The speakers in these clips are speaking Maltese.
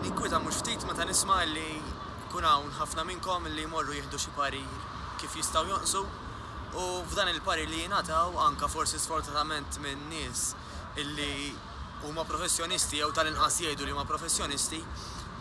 Ninkwieta mhux ftit meta nisma' li jkun hawn ħafna minnkom li jmorru jieħdu xi parir kif jistgħu jonqsu u f'dan il-parir li jingħataw, anka forsi sfortunatament minn nies li huma professjonisti jew tal-inqas jgħidu li huma professjonisti,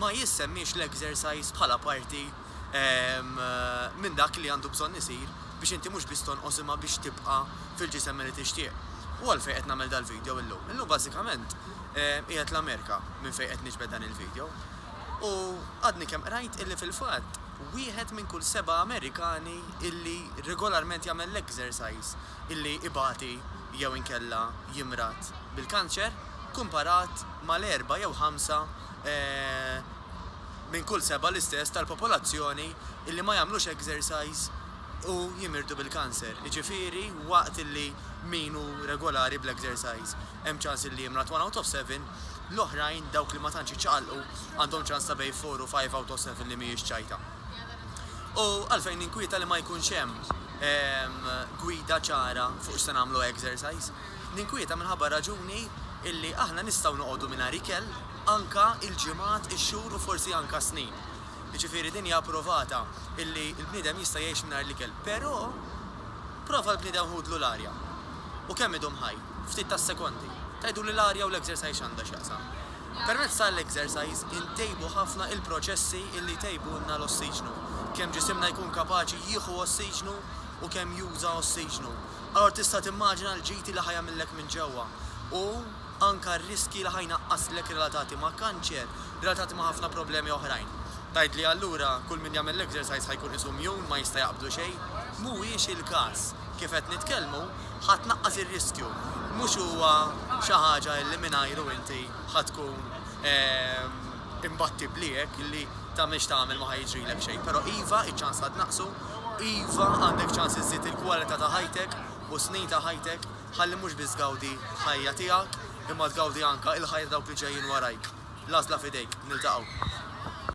ma jissemmiex l-exercise bħala parti minn dak li għandu bżonn isir biex inti mhux biss tonqos imma biex tibqa' fil-ġisem li tixtieq. U għalfejn qed nagħmel dal-video illum? Illum bażikament, qiegħed l-Amerika minn fejn qed niġbed dan il-video u għadni kemm qrajt illi fil-fatt wieħed minn kull seba' Amerikani illi regolarment jagħmel l-exercise illi ibati jew inkella jimrad bil-kanċer kumparat mal-erbgħa jew ħamsa minn kull seba' l-istess tal-popolazzjoni illi ma jagħmlux exercise u jimirdu bil-kanser, jiġifieri waqt illi min hu regolari bl-exercise. Hemm ċans li jimrat one out of seven, l-oħrajn, dawk li ma tantx iċċaqalqu, għandhom ċans ta' bejn four u five out of seven li mhijiex ċajta. U għalfejn ninkwieta li ma jkunx hemm ehm, gwida ċara fuq x'se nagħmlu exercise. Ninkwieta minħabba raġuni illi aħna nistgħu noqogħdu mingħajr ikel anka il-ġimgħat, ix-xhur u forsi anka snin. Jiġifieri din hija approvata illi l-bniedem jista' jgħix mingħajr l-ikel, però prova l-bniedem ħudlu l-arja. U kemm idum ħaj? Ftit tas-sekondi. Tgħiduli l-arja u l-exercise x'għandha x'jaqsam. Permezz ta' l-exercise intejbu ħafna il-proċessi illi jtejbulna l-ossiġnu. Kemm ġisimna jkun kapaċi jieħu ossiġnu u kemm juża ossiġnu. Allura tista' timmaġina l-ġiti li ħa jagħmillek minn ġewwa. U anka r-riskji li ħa jnaqqaslek relatati ma' kanċer, relatati ma' ħafna problemi oħrajn. Tgħidli allura kull min jagħmel l-exercise ħa jkun qisu mjun, ma jista' jaqbdu xejn. Mhuwiex il-każ. Kif qed nitkellmu, Ħa tnaqqas ir-riskju. Mhux huwa xi ħaġa li mingħajru inti ħa tkun imbattibbli hekk li tagħmel x'tagħmel ma ħa jiġrilek xejn. Però iva, iċ-ċans ħa tnaqqsu, iva għandek ċans iżżid il-kwalità ta' ħajtek u s-snin ta' ħajtek ħalli mhux biss tgawdi l-ħajja tiegħek imma tgawdi anke l-ħajja ta' dawk li ġejjin warajk. L-għażla f'idejk. Niltaqgħu.